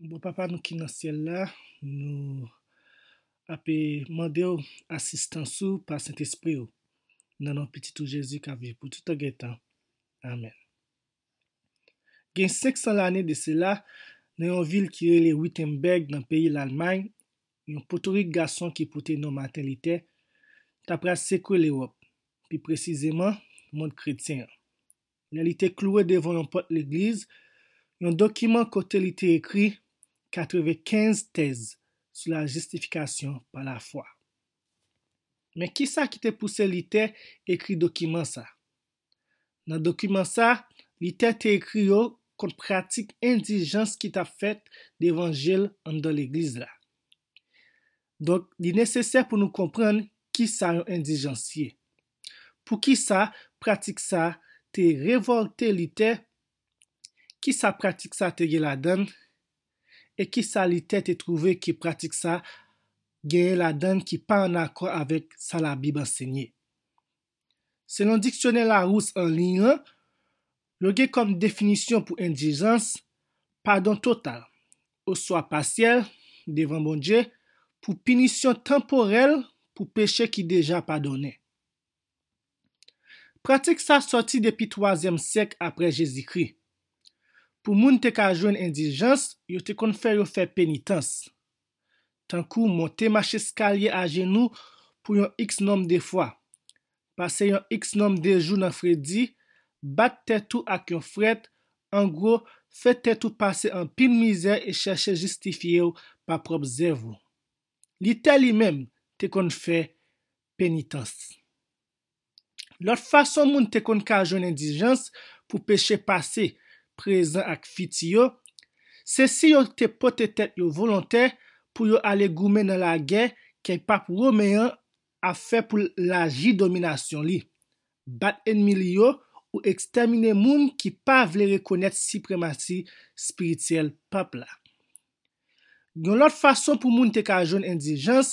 Bon papa nou ki nan syèl la, nou ape mande w asistans ou pa Sentespri w. Nan non pitit ou Jezi k ap viv pou toutan gen tan. Amèn. Gen 500 lane de sela, nan yon vil ki rele Wittenberg nan peyi Lalmay, yon potorik gason ki pote non Maten Litè, ta pral sekwe Lewòp, pi presizeman, mond kretyen an. lè li te kloure devan yon pòt legliz yon dokiman kote li te ekri 95 tèz sou la jistifikasyon pa lafwa. Men ki sa ki te pouse Lite ekri dokiman sa? Nan dokiman sa, Lite te ekri yo kont pratik endijans ki t ap fèt devan je l anndan legliz la. Donk, li nesesè pou nou konprann ki sa yon endijans ye. Poukisa pratik sa a te revòlte Lite? Ki sa pratik sa a te gen ladan l? E ki sa Lite te twouve ke pratik sa a genyen ladan l ki pa ann akò avèk sa Labib ansenye? Selon Diksyonè Larousse anliy lan, Yo gen kòm definisyon pou endijans, padon total, oswa pasyèl, devan Bondye, pou pinisyon tanporèl pou peche ki deja padonnen. Pratik sa sòti depi twazyèm syèk apre Jezikri. Pou moun te ka jwenn endijans, yo te konn fè yo fè penitans. tankou monte macheskalye ajenou pou yon iks nonm de fwa, pase yon iks nonm de jou nan fredi, bat tèt ou ak yon frèt, angwo, fè tèt ou pase anpil mizè e chèche jistifye w pa pwòp zèv ou. Lite li menm te konn fè penitans. Lòt fason moun te konn ka jwenn endijans pou peche pase, prezan ak fiti yo, se si yo te pote tèt yo volontè pou yo ale goumen nan lagè kèy pap women an ap fè pou l laji dominasyon li, bat enmi li yo ou ekstèmine moun ki pa vle rekonèt sipremasi spirityèl pap la. Yon lòt fason pou moun te ka jwenn endijans,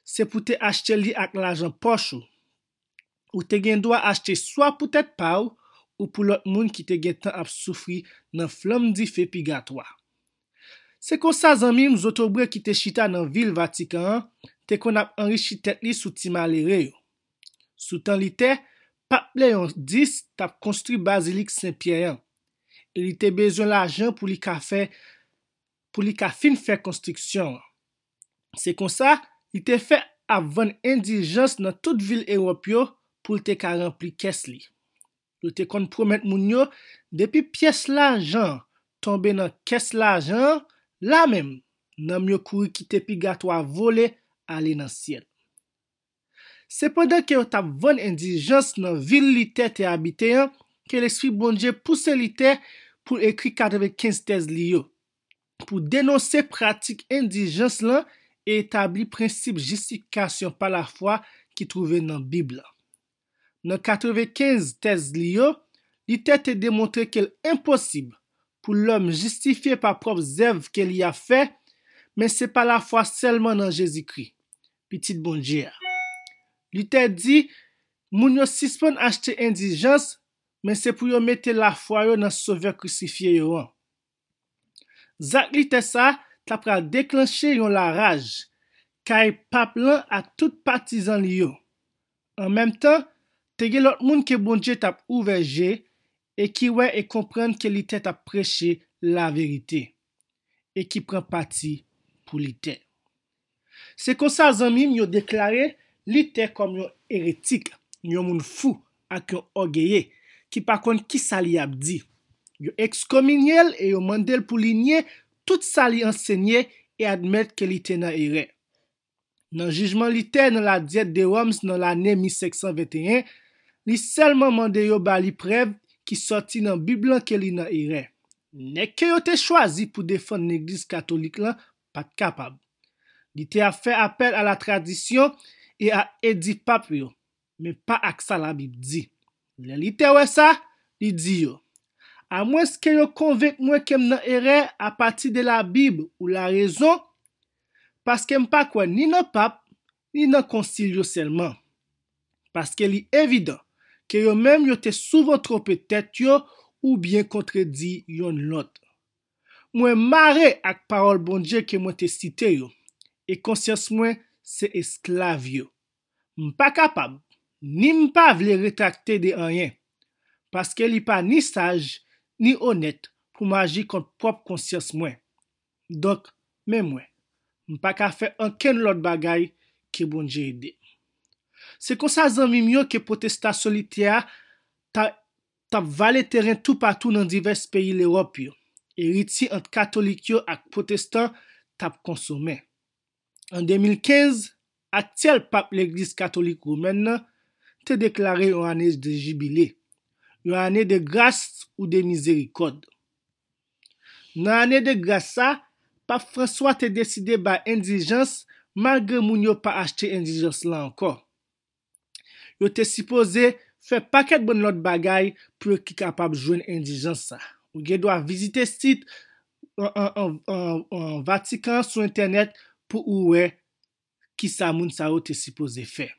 se pou te achte li ak lajan pòch ou. Ou te gen dwa achte swa pou tèt pa w ou pou lòt moun ki te gen tan ap soufri nan flanm dife pigatwa. Se konsa zanmi m zotobre ki te chita nan vil Vatikan an te konn ap anrichi tèt li sou ti malere yo. Sou tan li te, Pap Leon 10 t ap konstwi bazilik Sen Pyè an, e li te bezwen lajan pou li ka fè pou li ka fin fè konstriksyon an. Se konsa, li te fè ap vann endiljans nan tout vil Ewòp yo pou l te ka ranpli kès li. Yo te konn pwomèt moun yo depi pyès lajan an tonbe nan kès lajan an, la menm, nanm yo kouri kite pigatwa vole ale nan syèl. Se pandan ke yo t ap vann endijans nan vil Lite te abite an ke Lespri Bondye pouse Lite pou l ekri 95 tèz li yo, pou denonse pratik endijans lan e etabli prensip jistifikasyon pa lafwa ki twouve nan Bib la. Nan 95 tèz li yo, Lite te demontre ke l enposib pou lòm jistifye pa pwòp zèv ke li ap fè, men se pa lafwa sèlman nan Jezikri, Pitit Bondye a. Lite di, Moun yo sispann achte endijans, men se pou yo mete lafwa yo nan Sovè Krisifye yo an. Zak lite sa ta pral deklanche yon laraj kay pap lan ak tout patizan li yo. An menm tan, te gen lòt moun ke Bondye tap ouvè je e ki wè e konprann ke lite tap preche laverite e ki pran pati pou lite. Se konsa zanmi m yo deklare Lite kòm yon eretik, yon moun fou ak yon ògeye ki pa konn kisa li ap di. Yo ekskominye l e yo mande l pou li nye tout sa li ansenye e admèt ke li te nan erè. Nan jijman Lite nan La Diète de Worms nan lane 1521, li sèlman mande yo ba li prèv ki sòti nan Bib lan ke li nan erè. Nèg ke yo te chwazi pou defann Legliz Katolik lan pa t kapab. Li te ap fè apèl a latradisyon e a edi pap yo, men pa ak sa Labib di. Lè li te wè sa, li di yo, Amwenske yo konvenk mwen ke m nan erè apati de Labib ou larezon, paske m pa kwè ni nan pap, ni nan konsil yo sèlman. Paske li evidan ke yo menm yo te souvan twonpe tèt yo oubyen kontredi yonn lòt. Mwen mare ak pawòl Bondye ke mwen te site yo, e konsyans mwen se esklav yo. M pa kapab, ni m pa vle retrakte de anyen, paske li pa ni saj, ni onèt pou m aji kont pwòp konsyans mwen. Donk, men mwen, m pa ka fè ankenn lòt bagay ke Bondye ede m. Se konsa zanmi m yo ke pwotestasyon litè a ta t ap vale teren toupatou nan divès peyi Lewòp yo, eritye ant katolik yo ak pwotestan t ap konsomen. An 2015, aktyèl pap Legliz katolik womèn nan te deklare yon ane de jibile, yon ane de gras ou de mizerikòd. Nan ane de gras sa, pap Franswa te deside bay endijans malgre moun yo pa achte endijans lan ankò. Yo te sipoze fè pakèt bann lòt bagay pou yo ki kapab jwenn endijans sa. Ou gen dwa vizite sit Vatikan an sou entènèt pou ou wè ki sa moun sa yo te sipoze fè.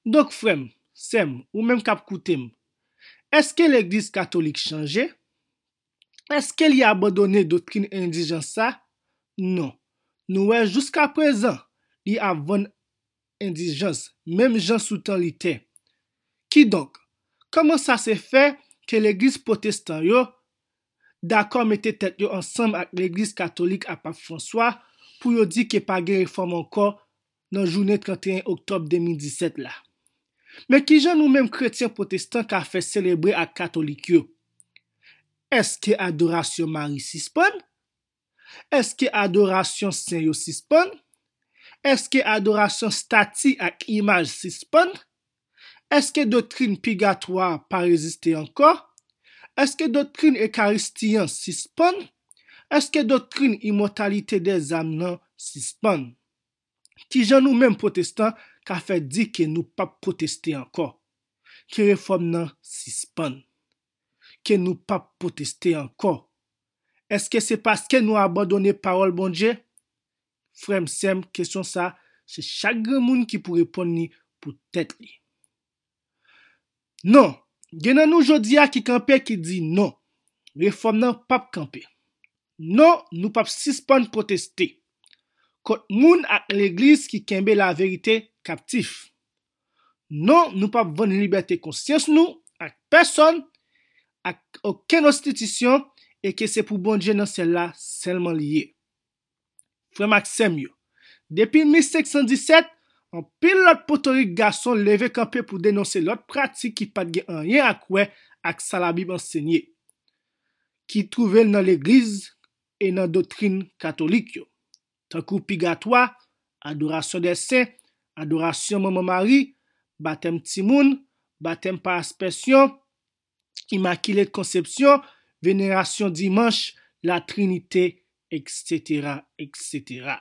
Donk frè m, sè m, ou menm k ap koute m, èske legliz katolik chanje? Èske li abandone doktrin endijans sa? Non. Nou wè jouskaprezan, li ap vann endijans, menm jan sou tan Litè. Kidonk, kòman sa se fè ke legliz pwotestan yo dakò mete tèt yo ansanm ak legliz katolik ak Pap Franswa pou yo di ke pa gen refòm ankò nan jounen 31 oktòb 2017 la? Men kijan nou menm kretyen pwotestan ka fè selebre ak katolik yo? Èske adorasyon Mari sispann? Èske adorasyon sen yo sispann? Èske adorasyon stati ak imaj sispann? Èske doktrin pigatwa a pa reziste ankò? Èske doktrin Ekaristi an sispann? Èske doktrin imòtalite dèzàm nan sispann? Ki jan nou menm pwotestan ka fè di ke nou p ap pwoteste ankò? Ke refòm nan sispann. Ke nou p ap pwoteste ankò. Èske se paske nou abandone pawòl Bondye? Frè m, sè m, kesyon sa, se chak granmoun ki pou reponn li pou tèt li. Non, gen nan nou jodi a ki kanpe ki di non, refòm nan pap kanpe. Non, nou pap sispann pwoteste kont moun ak legliz ki kenbe laverite kaptif. Non, nou pap vann libète konsyans nou ak pèsòn, ak okenn enstitisyon e ke se pou Bondye nan syèl la sèlman li ye. Frè m ak sè m yo, depi 1517, anpil lòt potorik gason leve kanpe pou denonse lòt pratik ki pa t gen anyen ak wè ak sa Labib ansenye, ki twouve l nan legliz e nan doktrin katolik yo, tankou pigatwa, adorasyon dè sen, adorasyon Manman Mari, batèm timoun, batèm pa aspèsyon, Imakile Konsepsyon, Venerasyon Dimanch, La Trinite, eksetera, eksetera.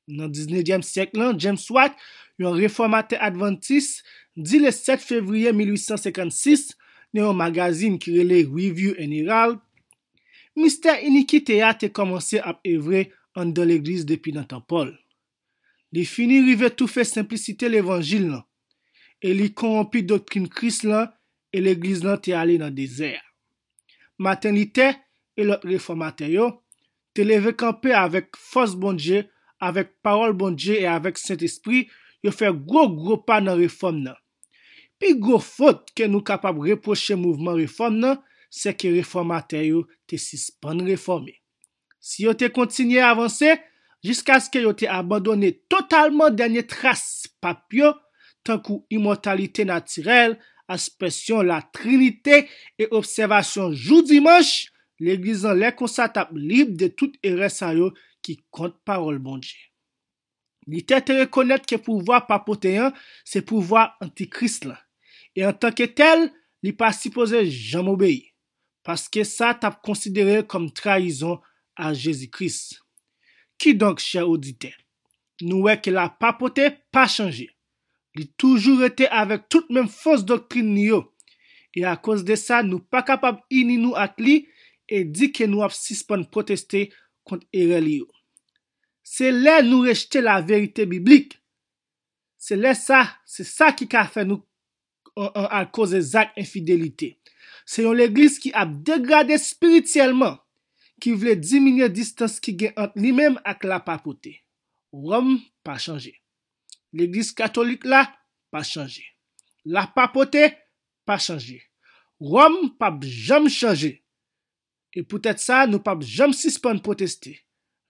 Nan diznevyèm syèk lan, James White, yon refòmatè advantis, di le 7 fevriye 1856, nan yon magazin ki rele Review and Herald, Mistè inikite a te kòmanse ap evre anndan legliz depi nan tan Pòl. Li fini rive toufe senplisite levanjil lan, e li konwonpi doktrin Kris lan e Legliz lan te ale nan dezè a. Maten Litè e lòt refòmatè yo te leve kanpe avèk fòs Bondye, avèk pawòl Bondye e avèk Sentespri yo fè gwo gwo pa nan refòm nan. Pi gwo fot ke nou kapab repwoche mouvman refòm nan sèke refòmatè yo te sispann refòme. Si yo te kontinye avanse jiskaske yo te abandone totalman dènye tras pap yo, tankou imòtalite natirèl, aspèsyon Latrinite e obsèvasyon jou Dimanch, Legliz lan lè konsa t ap lib de tout erè sa yo ki kont Pawòl Bondye. Luther te rekonèt ke pouvwa papote an se pouvwa antikris lan, e antanke tèl, li pa sipoze janm obeyi, paske sa t ap konsidere kòm trayizon a Jezi Kris. Kidonk, chè oditè, nou wè ke la papote pa chanje. Li toujou rete avèk tout menm fos doktrin li yo, e akoz de sa nou pa kapab ini nou ak li e di ke nou ap sispann pwoteste kont erè li yo. Se lè nou rejte laverite biblik, se lè sa, se sa ki ka fè nou al koze zak enfidelite. Se yon legliz ki ap degrade spirityèlman, ki vle diminye distans ki gen ant li menm ak lapapote. Ròm pa chanje. Legliz katolik la pa chanje. Lapapote pa chanje. Ròm pap janm chanje. E poutèt sa nou pap janm sispann pwoteste.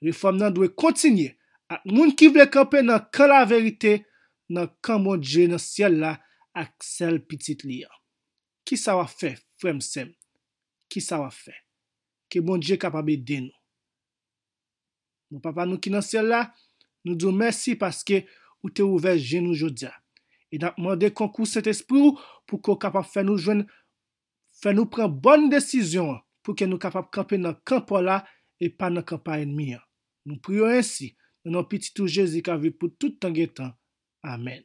Refòm nan dwe kontinye ak moun ki vle kanpe nan kan laverite, nan kan Bondye nan syèl la ak sèl Pitit li an. Kisa w ap fè, frè m, sè m? Kisa w ap fè? Ke Bondye kapab ede nou. Bon Papa nou ki nan syèl la, nou di w mèsi paske ou te ouvè je nou jodi a. E n ap mande konkou Sentespri w pou ke w kapab fè nou jwenn Fè nou pran bòn desizyon an pou ke nou kapab kanpe nan kan Pòl a e pa nan kan pa ènmi an. Nou priye w ensi, nan non Pitit ou Jezi k ap viv pou tout tan gen tan. Amèn.